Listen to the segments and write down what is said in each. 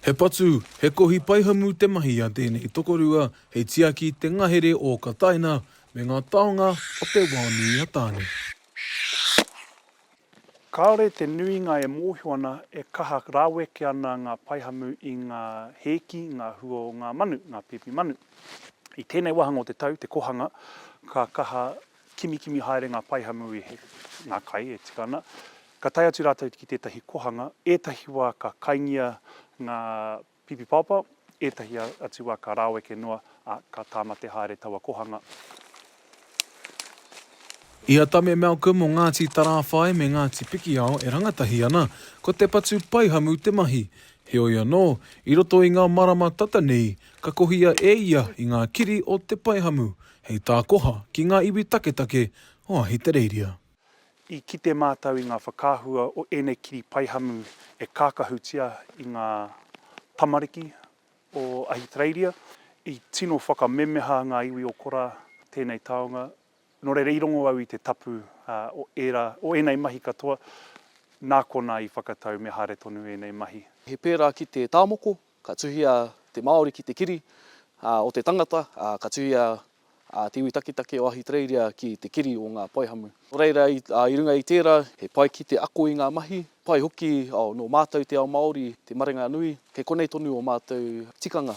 He patu, he kohi paihamu te mahi a tēnei tokorua hei tiaki te ngahere o Kataina me ngā taonga o te wao nui a Tāne. Kāore te nuinga e mōhio ana e kaha raweke ana ngā paihamu i ngā hēki, ngā hua o ngā manu, ngā pēpi manu. I tēnei wāhanga o te tau, te kōhanga, ka kaha Kimikimi haere ngā paihamu i heke ngā kai e tika ana. Ka tae atu rātou ki tētahi kohanga, ētahi wā ka kaingia ngā pipipaopa, ētahi atu wā ka rāweke noa, ā, ka tāmate haere taua kohanga. I a Tame Malcolm o Ngāti Tarāwhai me Ngāti Pikiao e rangatahi ana, ko te patu paihamu te mahi. Heoi anō, i roto i ngā marama tata nei, ka kohia e ia i ngā kiri o te paihamu, Hei tā Koha ki ngā iwi taketake o Ahitereiria. I kite mātou i ngā whakaahua o ēnei kiri paihamu e kākahutia i ngā tamariki o Ahitereiria. I tino whakamemeha ngā iwi o Kora tēnei taonga, nō reira i rongo au i te tapu o ērā, o ēnei mahi katoa, nā konā i whakatau me haere tonu ēnei mahi. He pērā ki te tāmoko, Ka tuhia te Māori ki te kiri o te tangata, ā, ka tuhia te iwi taketake o Ahitereiria ki te kiri o ngā paihamu. Nō reira, i runga i tērā, he pai ki te ako i ngā mahi, pai hoki nō mātou te ao Māori, te marenga nui, kei konei tonu ō mātou tikanga.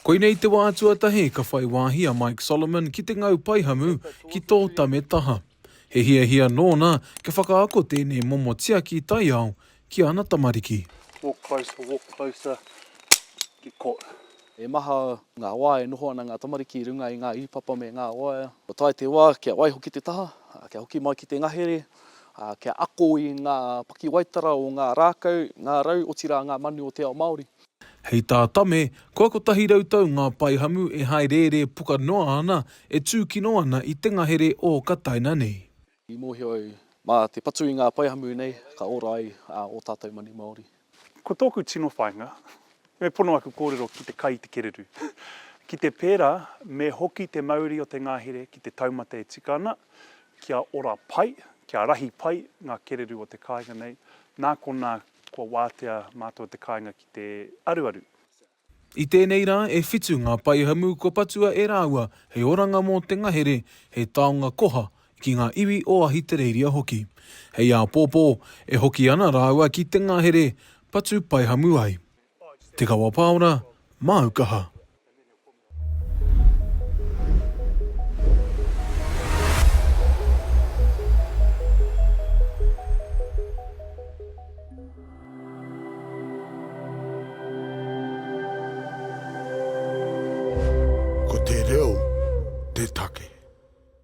Koinei te wā tuatahi ka whai wāhi a Mike Solomon ki te ngau paihamu ki tō tame taha. He hiahia nōna kia whakaako tēnei momo tiaki taiao Ki ana tamariki. Walk closer, walk closer, get caught. He maha ngā wā e noho ana ngā tamariki i runga i ngā īpapa me ngā waea. Kua tae te wā kia waiho ki te taha, kia hoki mai ki te ngahere, kia ako i ngā pakiwaitara o ngā rākau, ngā rau, otirā ngā manu o te ao Māori. Hei tā Tame, kua 100 tau ngā paihamu e haerērē puka noa ana e tūkino ana i te ngahere ō ka taina nei. I mōhio au, mā te patu i ngā paihamu nei, ka ora ai ō tātou manu Māori. Ko tōku tino whāinga, me pono aku kōrero ki te kai i te kererū. Ki te pērā, me hoki te mauri o te ngahere ki te taumata e tika ana, kia ora pai, kia rahi pai ngā kererū o te kāinga nei, nā konā kua wātea mātou te kāinga ki te aruaru. I tēnei rā e whitu ngā paihamu kua patua e rāua hei oranga mō te ngahere, hei taonga koha ki ngā iwi o Ahitereiria hoki. Hei āpōpō, e hoki ana rāua ki te ngahere, patu paihamu ai. Te Kawa Paora, māu kaha. Ko te reo te take.